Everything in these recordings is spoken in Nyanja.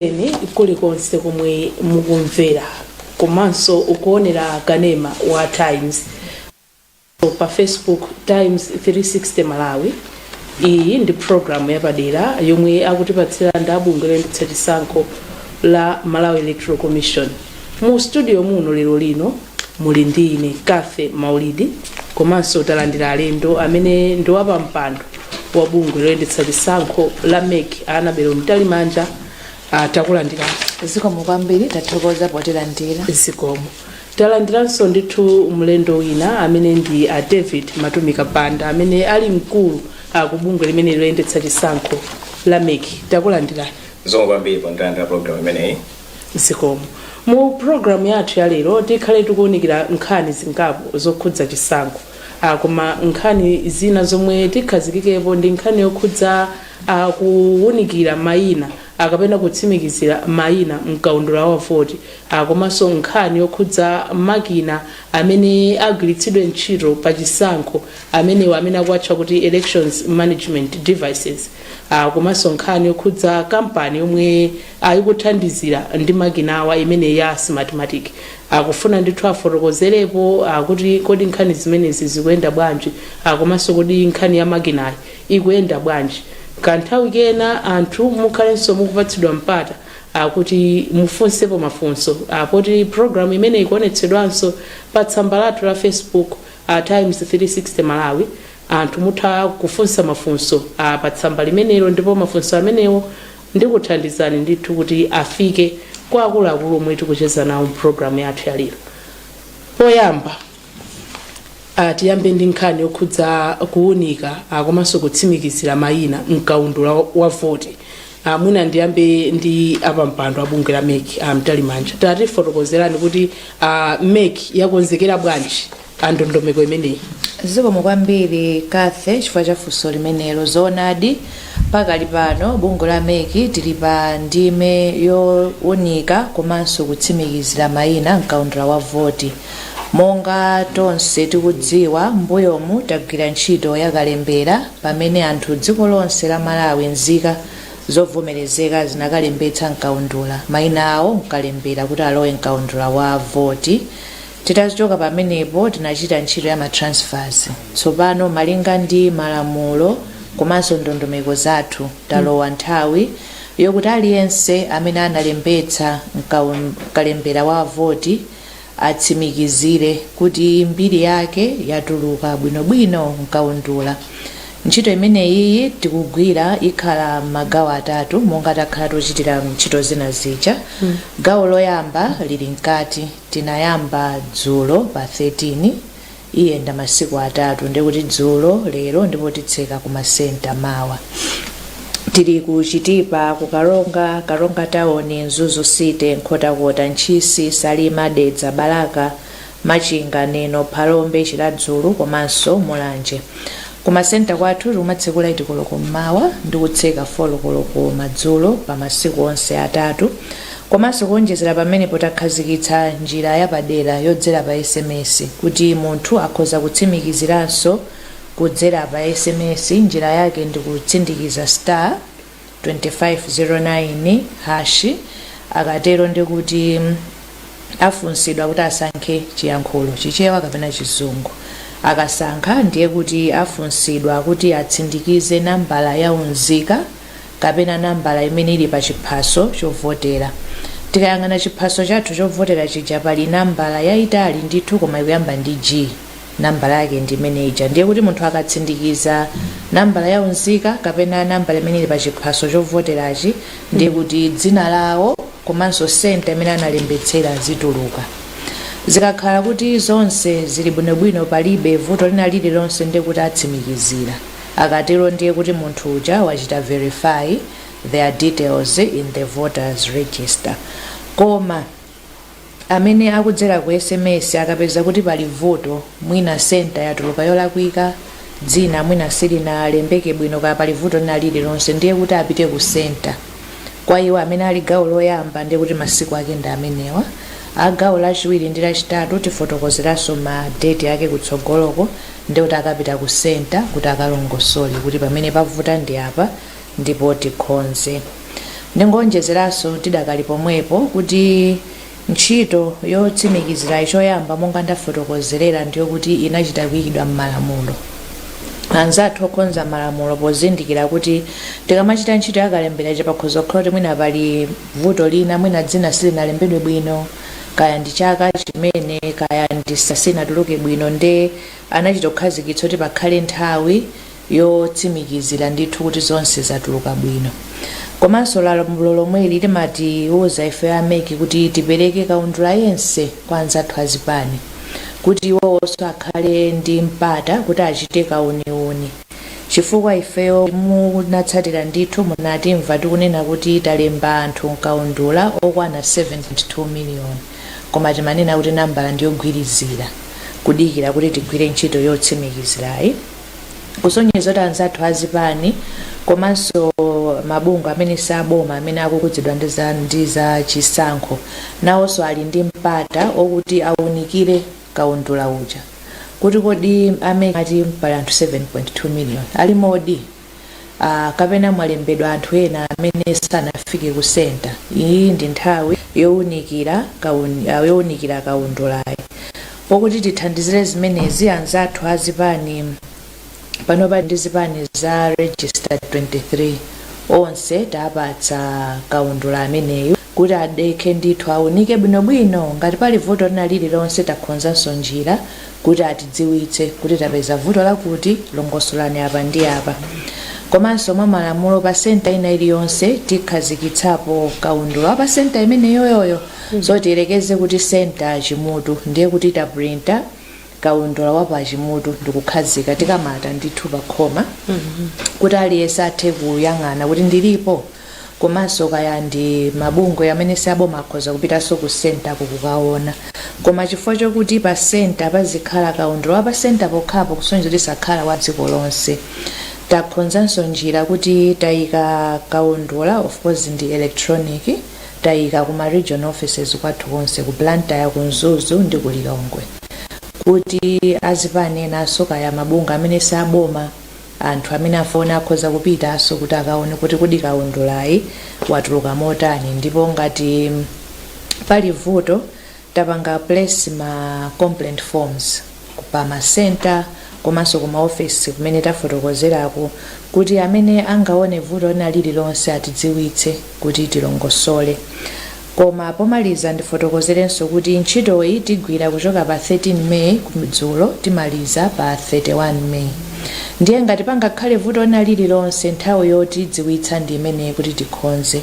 Tikufikireni kulikonse komwe mukumvera komanso kuonera kanema wa Times komanso pa Facebook Times 360 Malawi. Iyi ndi program yapadera yomwe akutipatsira ndi a bungwe loyendetsa chisankho la Malawi Electoral Commission. Mu studio muno lero lino Muli ndi ine Cathy Maulidi komanso talandira alendo amene ndi wapampando wa bungwe loyendetsa chisankho la MEC a Annabel Mtalimanja ah, takulandirani zikomo kwambiri tathokoza potilandira zikomo talandiranso ndithu mlendo wina amene ndi a David Matumika Banda amene ali mkulu ah, ku bungwe limene loyendetsa chisankho la MEC takulandirani zikomo kwambiri potilandira pa program imeneyi zikomo mu program yathu ya lero tikhale tikuwunikira nkhani zingapo zokhudza chisankho ah, koma nkhani zina zomwe tikhazikikepo ndi nkhani yokhudza ah, kuwunikira mayina ah, kapena kutsimikizira mayina mkaundula wa voti ah, komanso nkhani yokhudza makina amene agwiritsidwe ntchito pa chisankho amenewa amene akuwatcha kuti elections management devices ah, komanso nkhani yokhudza kampani yomwe Ah, ikuthandizira ndi makinawa imeneyi ya Smartmatic. Ah, kufuna ndithu afotokozerepo ah, kuti kodi nkhani zimenezi zikuyenda bwanji ah, komanso kodi nkhani ya makinayi ikuyenda bwanji. Kanthawi kena anthu mukhalenso mukupatsidwa mpata ah, kuti mufunsepo mafunso a poti program imeneyi ikuonetsedwanso pa tsamba lathu la Facebook a Times 360 Malawi. Anthu mutha kufunsa mafunso a pa tsamba limenelo ndipo mafunso amenewo Ndikuthandizani ndithu kuti afike kwa akuluakulu omwe tikucheza nawo mu program yathu ya lero. Poyamba, ah, tiyambe ndi nkhani yokhudza kuunika ah, komanso kutsimikizira mayina mkaundula wa- wa voti. Ah, mwina ndiyambe ndi apampando a bungwe la MEC a Mtalimanja tatifotokozerani kuti ah, MEC yakonzekera bwanji a ndondomeko imeneyi zikomo kwambiri Cathy chifukwa cha funso limenelo zoonadi pakali pano bungwe la MEC tili pa ndime yowunika komanso kutsimikizira mayina mkaundula wa voti monga tonse tikudziwa mbuyomu tagwira ntchito yakalembera pamene anthu dziko lonse la Malawi nzika zovomerezeka zinakalembetsa mkaundula mayina awo mkalembera kuti alowe mkaundula wa voti Titachoka pamenepo tinachita ntchito ya ma transfers. Tsopano malinga ndi malamulo komanso ndondomeko zathu talowa nthawi yokuti aliyense amene analembetsa mkalembera wa voti atsimikizire kuti mbiri yake yatuluka bwinobwino mkaundula. Ntchito imeneyiyi tikugwira ikhala mmagawo atatu monga takhala tikuchitira ntchito zina zija. Gawo loyamba lili mkati. Tinayamba dzulo pa 13, iyenda masiku atatu ndiye kuti dzulo, lero ndipo titseka ku ma centre mawa. Tili ku Chitipa, ku Karonga, Karonga town, Mzuzu city, Nkhotakota, Ntchisi, Salima, Dedza, Balaka, Machinga, Neno, Phalombe, Chiradzulu komanso Mulanje. Ku ma centre kwathu tikumatsekula 8 koloko m'mawa ndi kutseka 4 koloko madzulo pa masiku onse atatu. Komanso kuonjezera pamenepo takhazikitsa njira yapadera yodzera pa sms kuti munthu akhoza kutsimikiziranso kudzera pa sms njira yake ndi kutsindikiza star, 2509 hash akatero ndikuti afunsidwa kuti asankhe chiyankhulo chichewa kapena chizungu akasankha ndiye kuti afunsidwa kuti atsindikize nambala ya unzika kapena nambala imene ili pa chiphaso chovotera tikayang'ana chiphaso chathu chovotera chija pali nambala yayitali ndithu koma ikuyamba ndi g nambala yake ndi imene ija ndiye kuti munthu akatsindikiza nambala ya unzika kapena nambala imene ili pa chiphaso chovoterachi ndiye kuti dzina lawo komanso senta imene analembetsera zituluka zikakhala kuti zonse zili bwinobwino palibe vuto lina lililonse ndiye kuti atsimikizira akatero ndiye kuti munthu uja wachita verify their details in the voters register koma amene akudzera ku sms akapeza kuti pali vuto mwina centre yatuluka yolakwika, dzina mwina silinalembeke bwino kaya pali vuto lina lililonse ndiye kuti apite ku centre. Kwa iwo amene ali gawo loyamba ndiye kuti masiku ake ndi amenewa. A gawo lachiwiri ndi lachitatu tifotokozeranso ma date ake kutsogoloko ndiye kuti akapita ku centre kuti akalongosole kuti pamene pavuta ndi apa, ndipo tikhonze. Ndingoonjezeranso tidakali pomwepo kuti ntchito yotsimikizirayi choyamba monga ndafotokozerera ndiyokuti inachita kuyikidwa m'malamulo. Anzathu okhonza malamulo pozindikira kuti tikamachita ntchito yakalembera ija pakhoza kukhala kuti mwina pali vuto lina mwina dzina silinalembedwe bwino kaya ndi chaka chimene kaya ndi silinatuluke bwino nde anachita kukhazikitsa kuti pakhale nthawi yotsimikizira ndithu kuti zonse zatuluka bwino komanso lamulo lomweli limatiuza ife a MEC kuti tipereke kaundula yense kwa anzathu azipani kuti iwonso akhale ndi mpata kuti achite kauniuni chifukwa ifeyo munatsatira ndithu munatimva tikunena kuti talemba anthu mkaundula okwana 7.2 miliyoni koma timanena kuti nambala ndiyogwirizira kudikira kuti tigwire ntchito yotsimikizirayi kusonyeza kuti anzathu azipani komanso mabungwe amene si aboma amene akukhudzidwa ndi za chisankho nawonso ali ndi mpata okuti aunikire kaundula uja kuti kodi amene ati pali anthu 7.2 million alimodi Uh, kapena mwalembedwa anthu ena amene sanafike ku senta iyi ndi nthawi yowunikira kaundulayu pokuti tithandizire zimenezi anzathu a zipani pano tili ndi zipani za registered 23 onse tapatsa kaundula ameneyu kuti adekhe ndithu aunike bwinobwino ngati pali vuto lina lililonse takhonzanso njira kuti atidziwitse kuti tapeza vuto lakuti longosolani apa ndi apa komanso mwa malamulo pa senta ina iliyonse tikhazikitsapo kaundula wa pa senta imeneyoyoyo so tiyerekeze kuti senta ya Chimutu ndiye kuti tapulinta kaundula wa pa Chimutu ndikukhazika tikamata ndithu pa khoma kuti aliyense athe kuyang'ana kuti ndilipo komanso kaya ndi mabungwe amene si aboma akhoza kupitanso ku centerko kukaona koma chifukwa chokuti pa center pazikhala kaundula wa pa center pokhapo kusonyeza kuti sakhala wa dziko lonse takhonzanso njira kuti tayika kaundula of course ndi electronic tayika kuma region offices kwathu konse ku Blantyre ku Mzuzu ndi ku Lilongwe kuti azipani enanso kaya mabungwe amene si aboma Anthu amene afuna akhoza kupitaso kuti akaone kuti kodi kaundulayu watuluka motani ndipo ngati pali vuto tapanga place ma complaint forms pa ma centre komaso ku ma office kumene tafotokozerako kuti amene angaone vuto lina lililonse atidziwitse kuti tilongosole. Koma pomaliza ndifotokozerenso kuti ntchitoyi tigwira kuchoka pa 13 May dzulo timaliza pa 31 May ndiye ngati pangakhale vuto lina lililonse nthawi yotidziwitsa ndi imeneyi kuti tikhonze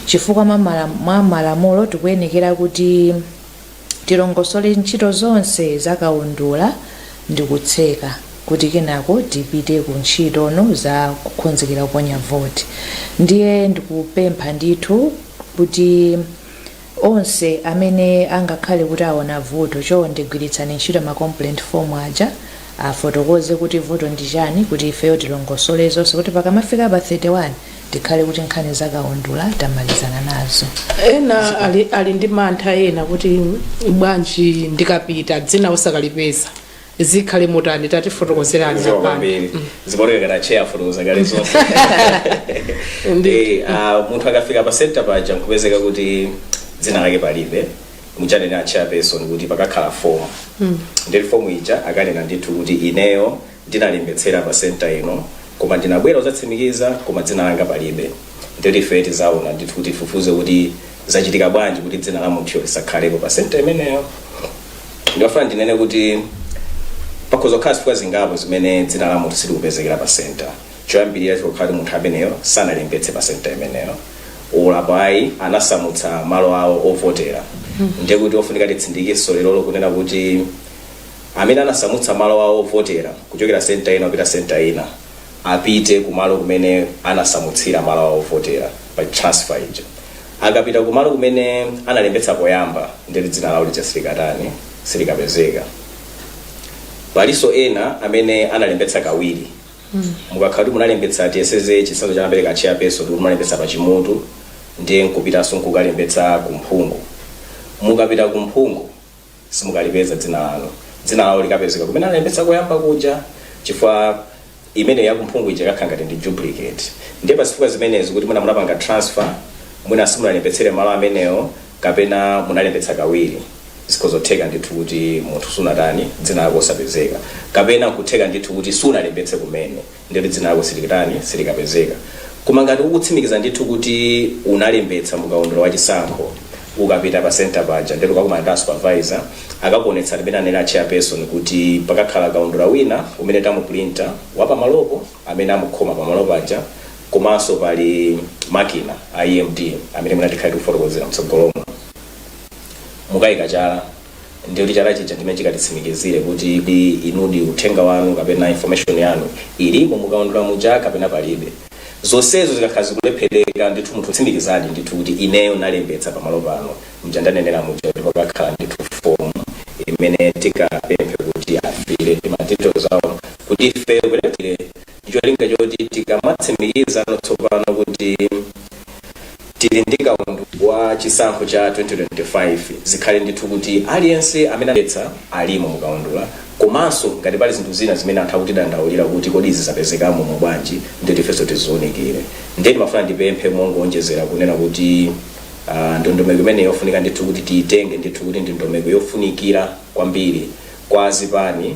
chifukwa mwa malamulo tikuyenekera kuti tilongosole ntchito zonse za kaundula ndikutseka kuti kenako tipite ku ntchito zino za kukhonzekera kuponya voti ndiye ndikupempha ndithu kuti onse amene angakhale kuti aona vuto chonde gwiritsani ntchito ma complaint form aja afotokoze kuti vuto ndi chani kuti ifeyo tilongosole zonse kuti pakamafika pa 31 tikhale kuti nkhani za kaundula tamalizana nazo ena ali, ali ndi mantha ena kuti bwanji ndikapita dzina osakalipeza zikhale motani tatifotokozerani Zikomo kwambiri zimaoneka ngati acheya afotokoza kale zonse Ndi- Eh, ah, munthu akafika pa center paja nkupezeka kuti dzina lake palibe muja anena a chairperson kuti pakakhala fomu ndiye fomu ija akanena ndithu kuti ineyo ndinalembetsera pa centre ino koma ndinabwera kudzatsimikiza koma dzina langa palibe ndeti ife tizaona ndithu kuti tifufuze kuti zachitika bwanji kuti dzina la munthuyo lisakhalepo pa centre imeneyo ndimafuna ndinene kuti pakhoza kukhala zifukwa zingapo zimene dzina la munthu silikupezekera pa centre choyambirira chikhoza kukhala kuti munthu ameneyo sanalembetse pa centre imeneyo olo apo ayi anasamutsa malo awo ovotera ndiye kuti ofunika titsindikenso lero kunena kuti amene anasamutsa malo awo ovotera kuchokera senta ina kupita senta ina apite kumalo kumene anasamutsira malo awo ovotera pa transfer ija akapita kumalo kumene analembetsa poyamba ndeti dzina lawo lija silikatani silikapezeka palinso ena amene analembetsa kawiri mukakhala kuti munalembetsa tiyeseze chitsanzo chomwe anapereka a chairperson kuti munalembetsa pa Chimutu ndiye nkupitanso nkukalembetsa ku Mphungu mukapita ku Mphungu simukalipeza dzina lanu dzina lawo likapezeka kumene analembetsa koyamba kuja chifukwa imeneyo ya ku Mphungu ija ikakhala ngati ndi duplicate ndiye pazifukwa zimenezi kuti mwina munapanga transfer mwina simunalembetsere malo amenewo kapena munalembetsa kawiri zikhoza kutheka ndithu kuti munthu sunatani dzina lako osapezeka kapena kutheka ndithu kuti sunalembetse kumene Ndeti dzina lako silikatani, silikapezeka. Koma ngati ukutsimikiza ndithu kuti unalembetsa mu kaundula wa chisankho, ukapita pa center paja ndeti ukakumana ndi a supervisor akakuonetsa m'mene anena a chairperson kuti pakakhala kaundula wina umene tamupulinta wa pamalopo amene amukhoma pamalo paja komanso pali makina a EMD amene mwina tikhale tikufotokozera mtsogolomo mukayika chala Ndiye kuti chala chija ndimene chikatitsimikizire kuti kodi inudi uthenga wanu kapena information yanu ilimo mukaundula muja kapena palibe. Zonsezo zikakhala zikulephereka ndithu munthu ukutsimikizadi ndithu kuti ineyo ndinalembetsa pamalo pano muja ndanenera muja kuti pakakhala ndithu form imene tikapemphe kuti afill ma details awo kuti ifeyo kulephera ndicholinga choti tikamatsimikizano tsopano kuti tili ndi kaundula wa chisankho cha 2025 zikhale ndithu kuti aliyense amene analembetsa alimo mukaundula komanso ngati pali zinthu zina zimene anthu akutidandaulira kuti kodi izi zapezekamo umu bwanji nditi ifenso tiziunikire ndiye ndimafuna ndipemphe mongoonjezera kunena kuti ah, ndondomeko imene yofunika ndithu kuti tiyitenge ndithu kuti ndi ndondomeko yofunikira kwambiri kwa zipani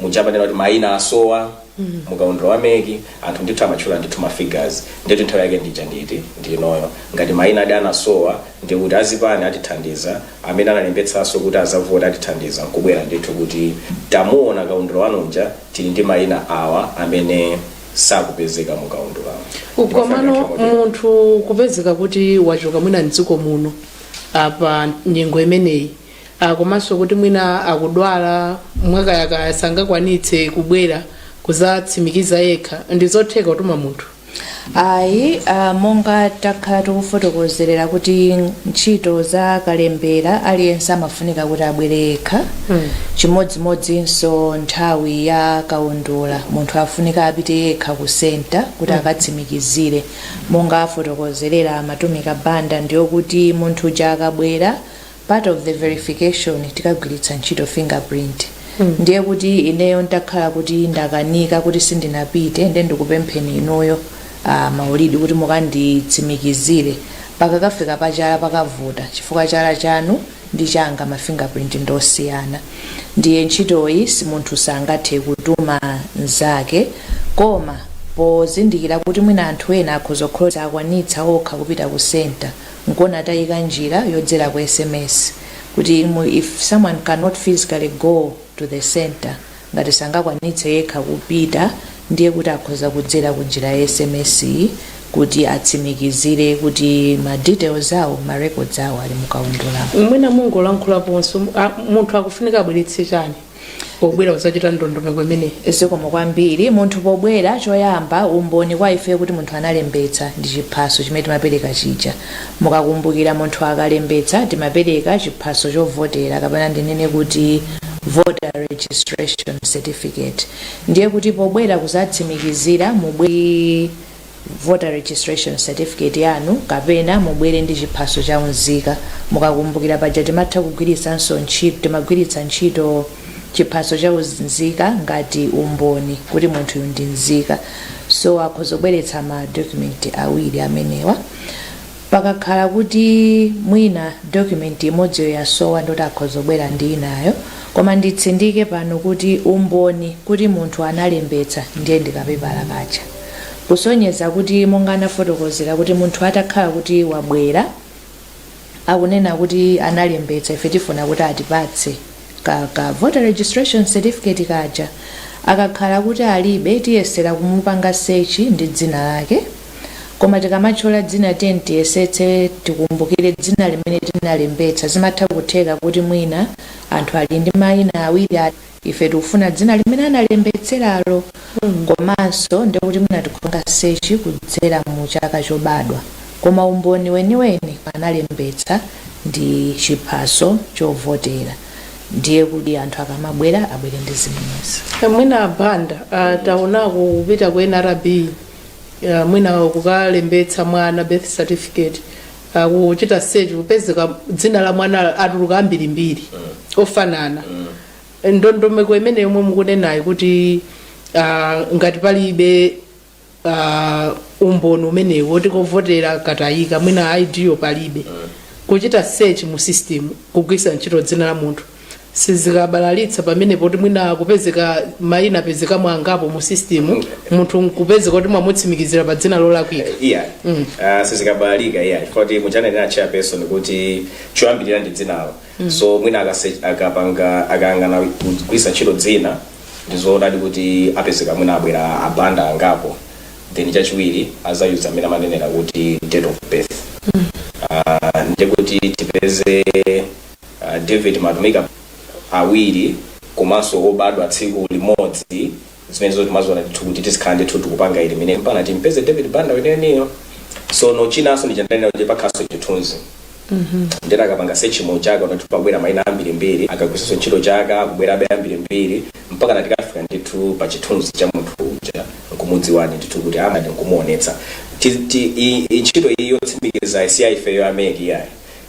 muja amanena kuti maina asowa mukaundula wa MEC anthu ndithu amatchula ndithu ma figures ndithu nthawi yake ndija nditi ndinoyo ngati mainawadi anasowa ndi kuti azipani atithandiza amene analembetsanso kuti azavota atithandiza nkubwera ndithu kuti tamuona kaundula wanu uja tili ndi maina awa amene sakupezeka mu kaundula komano munthu kupezeka kuti wachoka mwina mdziko muno apa nyengo imeneyi Ah, komanso kuti mwina akudwala mwakayakaya sangakwanitse kubwera kuzatsimikiza yekha ndi zotheka kutuma munthu ayi ah, monga takhala tikufotokozerera kuti ntchito za kalembera aliyense amafunika kuti abwere yekha Mm. chimodzimodzinso nthawi ya kaundula munthu afunika apite yekha ku senta kuti akatsimikizire monga afotokozerera a Matumika Banda ndiyokuti munthu uja akabwera part of the verification tikagwiritsa ntchito fingerprint ndiye kuti ineyo ntakhala kuti ndakanika kuti sindinapite nde ndikupempheni inuyo a Maulidi kuti mukanditsimikizire pakakafika pachala pakavuta chifukwa chala chanu ndi changa ma fingerprint ndosiyana ndiye ntchitoyi si munthu sangathe kutuma mzake koma pozindikira kuti mwina anthu ena akhoza kukhala osakwanitsa okha kupita ku center nkuona tayika njira yodzera ku sms kuti mu- if someone cannot physically go to the center ngati sangakwanitse yekha kupita ndiye kuti akhoza kudzera ku njira ya sms iyi kuti atsimikizire kuti ma details awo ma records awo ali mukaundulamo mwina mungolankhulaponso a- munthu akufunika abweretse chani pobwera kuzachita ndondomeko imeneyi. Zikomo kwambiri. Munthu pobwera, choyamba umboni kwa ife kuti munthu analembetsa ndi chiphaso chimene timapereka chija. Mukakumbukira munthu akalembetsa timapereka chiphaso chovotera kapena ndinene kuti voter registration certificate. Ndiye kuti pobwera kuzatsimikizira mubwere ndi. voter registration certificate yanu kapena mubwere ndi chiphaso cha unzika. Mukakumbukira paja timatha kugwiritsanso ntchito timagwiritsa ntchito chiphaso cha unzika ngati umboni kuti munthuyu ndi nzika. So akhoza kubweretsa ma document awiri amenewa. Pakakhala kuti mwina document imodziyo yasowa ndoti akhoza kubwera ndi inayo koma nditsindike pano kuti umboni kuti munthu analembetsa ndiye ndi kapepala kaja kusonyeza kuti monga anafotokozera kuti munthu atakhala kuti wabwera akunena kuti analembetsa ife tifuna kuti atipatse ka, ka voter registration certificate kaja akakhala kuti alibe tiyesera kumupanga search ndi dzina lake Koma tikamatchula dzina tiyeni tiyesetse tikumbukire dzina limene tinalembetsa. Zimatha kutheka kuti mwina anthu ali ndi mayina awiri ife tikufuna dzina limene analembetseralo komanso ndiye kuti mwina tikupanga search kudzera mu chaka chobadwa koma umboni weniweni analembetsa ndi chiphaso chovotera ndiye kuti anthu akamabwera abwere ndi zimenezi. mwina a Banda taonako kupita ku nrb Ya, mwina kukalembetsa mwana birth certificate kuchita search kupezeka dzina la mwana atuluka ambirimbiri ofanana ndondomeko imene yomwe mukunenayo kuti ah, ngati palibe ah, umboni umenewo woti kovotera katayika mwina id yo palibe kuchita search mu system kugwisa ntchito dzina la munthu sizikabalalitsa pamene poti mwina kupezeka maina apezekamo angapo mu system munthu nkupezeka kuti mwamutsimikizira pa dzina lolakwika iya mm. uh, sizikabalalika iyayi chifukwa kuti muja ananena chairperson kuti choyambirira ndi dzinalo mm. so mwina akase- akapanga akayang'ana kugwisa ntchito dzina ndizoonadi kuti apezeka mwina abwera abanda angapo then chachiwiri azayuza amene amanenera kuti date of birth mm. uh, ndikuti tipeze A David Matumika awiri komanso obadwa tsiku limodzi zimenezo timaziona ndithu kuti tizikhala ndithu tikupanga ili mine mpana timupeze David Banda weneniyo sono chinanso ndi cha ndanena kuti pakhaso chithunzi nde akapanga search mu chaka kuti pabwera maina ambirimbiri akagwiritsanso ntchito chaka akubwerabe ambirimbiri mpakana tikafika ndithu pa chithunzi cha munthu uja nkumudziwani ndithu kuti amati nkumuonetsa Ti- ti- i- i- ntchito iyi yotsimikiza si ya ifeyo a MEC yayi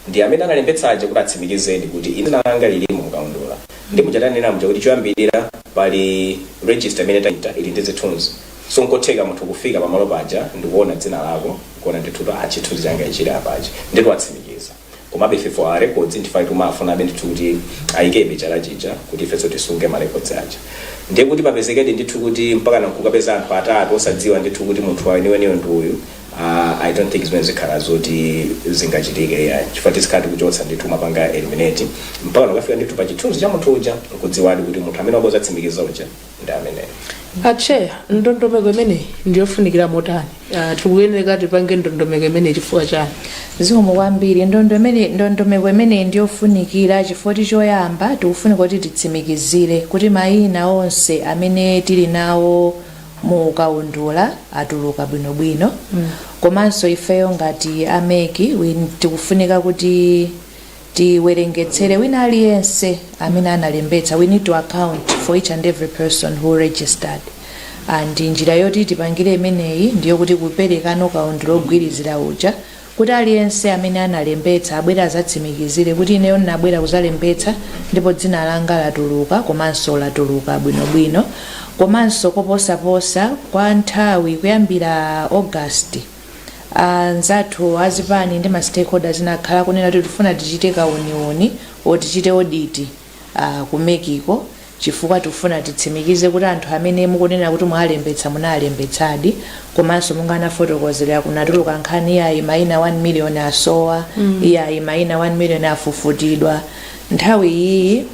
Ndi amene analembetsa aja kuti atsimikizedi kuti ine dzina langa lilimo mu kaundula. Nde muja tanenera muja kuti choyambilira pali register imene tachita ili ndi zithunzi. So nkotheka munthu kufika pamalo paja ndikuona dzina lako nkuona ndithu kuti aah chithunzi changa ichi chili apachi. Ndetu watsimikiza. Komabe ife for our records ndife timafunabe ndithu kuti ayikebe chala chija kuti ifenso tisunge ma records aja. Ndiye kuti papezekedi ndithu kuti mpakana nkukapeza anthu atatu osadziwa ndithu kuti munthu weniweniyo ndi uyu. Aaa I don't think zimenezi zikhala zoti zingachitike iyayi chifukwa tizikhala tikuchotsa ndithu kumapanga eliminate mpaka tikafika ndithu pa chithunzi cha munthu uja nkudziwadi kuti munthu amene wabwera kuzatsimikiza uja ndi ameneyo. acheya ndondomeko imeneyi ndiyofunikira motani Ah, tikuyenera tipange ndondomeko imeneyi chifukwa chani zikomo kwambiri ndondomeko imeneyi ndiyofunikira chifukwa choyamba tikufunika kuti titsimikizire kuti mayina onse amene tili nawo mu kaundula atuluka bwinobwino komanso ifeyo ngati a MEC tikufunika kuti tiwerengetsere wina aliyense amene analembetsa we need to account for each and every person who registered and njira yoti tipangire imeneyi ndiyo kuti kupereka kaundula ongoyembekezera uja kuti aliyense amene analembetsa abwere azatsimikizire kuti ineyo ndinabwera kuzalembetsa ndipo dzina langa latuluka komanso latuluka bwinobwino komanso koposaposa kwa nthawi kuyambira August anzathu azipani ndi ma stakeholders ena akhala akunena kuti tikufuna tichite kauniuni or tichite audit uh, ku MEC-ko chifukwa tikufuna titsimikize kuti anthu amene mukunena kuti mwawalembetsa munalembetsadi komanso monga ndinafotokozera kunatuluka nkhani iyayi maina 1 million asowa mm. iyayi maina 1 million afufutidwa nthawi iyi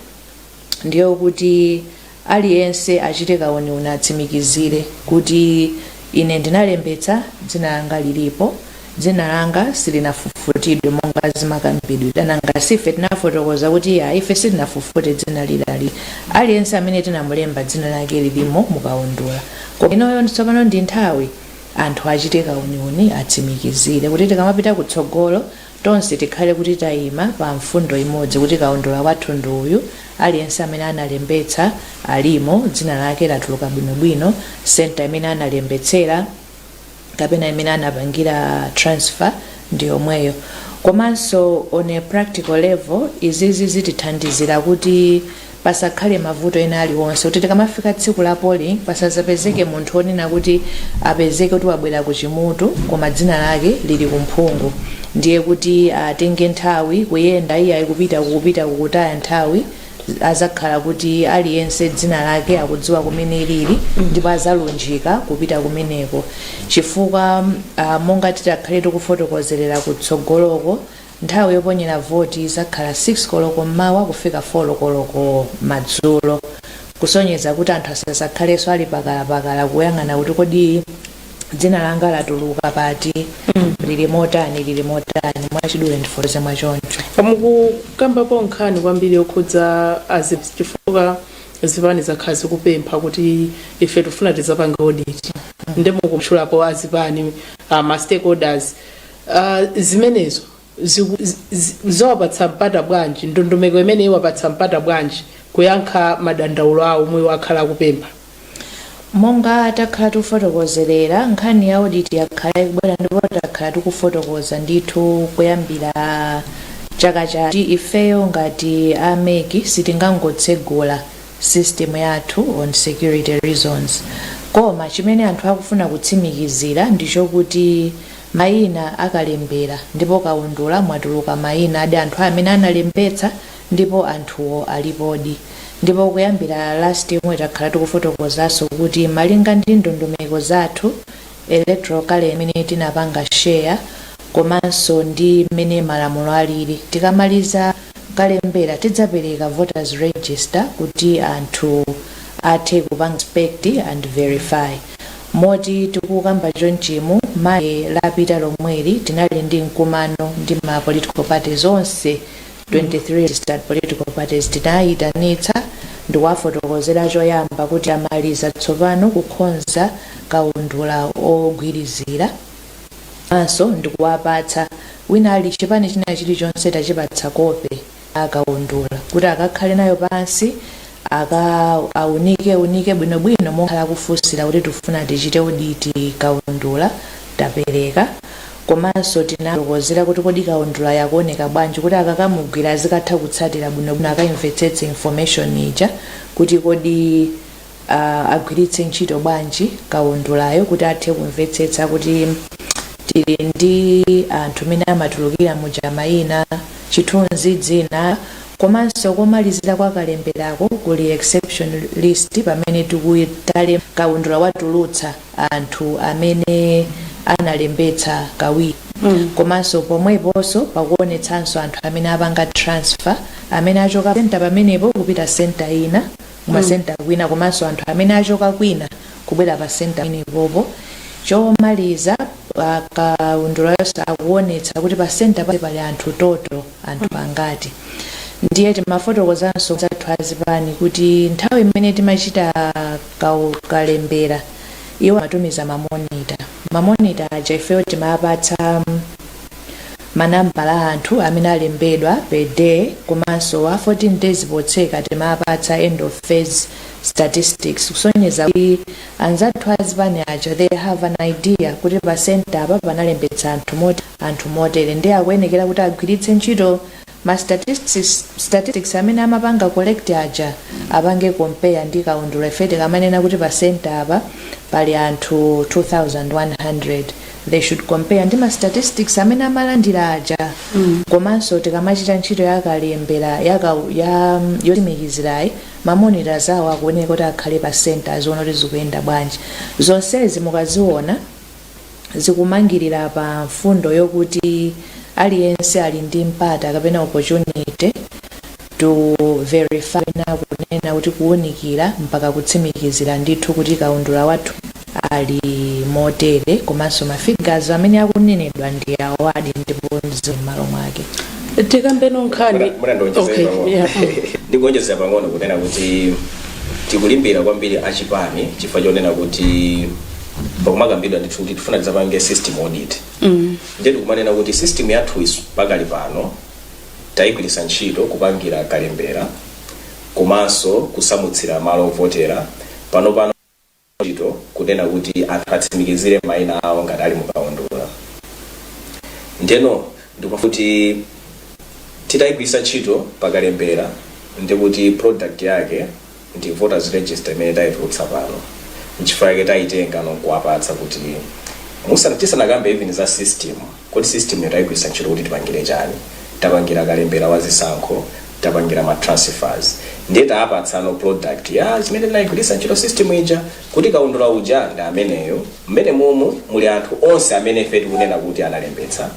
ndiyo kuti Aliyense achite kauniuni atsimikizire kuti ine ndinalembetsa, dzina langa lilipo, dzina langa silinafufutidwe monga zimakambidwira, nanga si ife tinafotokoza kuti iyayi ife sitinafufute dzina lilili, aliyense amene tinamulemba dzina lake lilimo mukaundula koma inoyo tsopano ndi nthawi anthu achite kauniuni atsimikizire kuti tikamapita kutsogolo Tonse tikhale kuti taima pa mfundo imodzi kuti kaundula wathu ndi uyu, aliyense amene analembetsa alimo, dzina lake latuluka bwinobwino, centre imene analembetsera kapena imene anapangira transfer ndi yomweyo. Komanso on a practical level izizi zitithandizira kuti pasakhale mavuto ena aliwonse kuti tikamafika tsiku la polling pasazapezeke munthu onena kuti apezeke kuti wabwera ku Chimutu koma dzina lake lili ku Mphungu ndiye kuti atenge nthawi kuyenda iyayi kupita kupita kukutaya nthawi azakhala kuti aliyense dzina lake akudziwa kumene lili ndipo azalunjika kupita kumeneko chifukwa uh, monga titakhale tikufotokozerera kutsogoloko Nthawi yoponyera voti idzakhala 6 koloko m'mawa kufika 4 koloko madzulo, kusonyeza kuti anthu asadzakhalenso ali pakalapakala kuyang'ana kuti kodi dzina langa latuluka pati, lili motani, lili motani. Mwachidule ndifotokoze mwa choncho. Mukukambapo nkhani kwambiri yokhudza azi chifukwa zipani zakhala zikupempha kuti ife tikufuna tidzapange audit nde mukutchulapo azipani, ma stakeholders. Ah, zimenezo ziku- zi- zi- zawapatsa mpata bwanji ndondomeko imene iwapatsa mpata bwanji kuyankha madandaulo awo omwe akhala akupempha monga takhala tikufotokozerera nkhani ya audit yakhala ikubwera ndipo takhala tikufotokoza ndithu kuyambira chaka chatha kuti ifeyo ngati a MEC sitingangotsegula system yathu on security reasons koma chimene anthu akufuna kutsimikizira ndichokuti mayina a kalembera ndipo kaundula mwatuluka mayina adi anthu amene analembetsa ndipo anthuwo alipodi ndipo kuyambira last year takhala tikufotokozaso kuti malinga ndi ndondomeko zathu electoral calendar imene tinapanga share komanso ndi mmene malamulo alili tikamaliza kalembera tidzapereka voters register kuti anthu athe kupanga inspect and verify Moti tikukamba chonchimu Monday lapita lomweli tinali ndi mkumano ndi ma political parties onse 23 registered political parties. Tinaaitanitsa ndikuwafotokozera choyamba kuti tamaliza tsopano kukhonza kaundula ogwirizirawo komanso ndikuwapatsa wina ali- chipani china chilichonse tachipatsa kope. a kaundula kuti akakhale nayo pansi akaunike unike bwinobwino mmene akhala akufunsira kuti tifuna tichite audit kaundula tapereka komanso tinafotokozera kuti kodi kaundula yakuoneka bwanji kuti akakamugwira azikatha kutsatira bwinobwino akaimvetsetse information ija kuti kodi agwiritse ntchito bwanji kaundulayo kuti athe kumvetsetsa kuti tili ndi anthu mmene amatulukira muja mayina, chithunzi, dzina komanso komalizira kwa kalemberako kuli exception list pamene tikuitalemba kaundula watulutsa anthu amene analembetsa kawiri komanso pomweponso pakuonetsanso anthu amene apanga transfer amene achoka pa centre pamenepo kupita centre ina. kumasenta kwina komanso anthu amene achoka kwina kubwera pa senta ina pompo chomaliza ah, kaundula yonse akuonetsa kuti pa senta pali anthu total anthu angati ndiye timafotokozanso anzathu azipani kuti nthawi imene timachita kau- kalembera iwo amatumiza mamonita mamonita aja ifeyo timapatsa mm, manambala a anthu amene alembedwa per day komanso wa 14 days potseka timapatsa end of phase statistics kusonyeza kuti anzathu a zipani aja they have an idea kuti pa centre apa panalembetsa anthu motere anthu motere ndiye akuyenekera kuti agwiritse ntchito Ma statistics amene amapanga collect aja apange compare ndi kaundula ife tikamanena kuti pa centre apa pali anthu 2100 they should compare ndi ma statistics amene amalandira aja komanso tikamachita ntchito ya kalembera ya ka- ya yotsimikizirayi ma monitors awo akuyenera kuti akhale pa centre aziona kuti zikuyenda bwanji zonsezi mukaziona zikumangirira pa mfundo yokuti aliyense ali ndi mpata kapena opportunity to verify na kunena kuti kuwunikira mpaka kutsimikizira ndithu kuti kaundula wathu ali motere komanso mafigazo amene akunenedwa ndi awadi ndipo zili m'malo mwake tikambe nkhani Muna- muna ndonjezera Okay, pang'ono. yeah. ndikuonjezera pang'ono kunena kuti tikulimbira kwambiri achipani chifukwa chonena kuti pakumakambidwa ndithu kuti tifuna tidzapange system audit ndiye tikumanena kuti system yathu isu pakali pano tayigwiritsa ntchito kupangira kalembera komanso kusamutsira malo ovotera pano pano ntchito kunena kuti anthu atsimikizire mayina awo ngati ali mukaundula ndiyeno ndikuti titayigwiritsa ntchito pakalembera ndikuti product yake ndi voters register imene taitulutsa pano nchifukwa chake taitengano nkuwapatsa kuti musana tisanakambe even za system kodi systemyo taigwiritsa ntchito kuti tipangire chani tapangira kalembera wa zisankho tapangira ma transfers ndiye taapatsano product ya zimene tinaigwiritsa ntchito system ija kuti kaundula uja ndi ameneyo mmenemomu muli anthu onse amene ife tikunena kuti analembetsa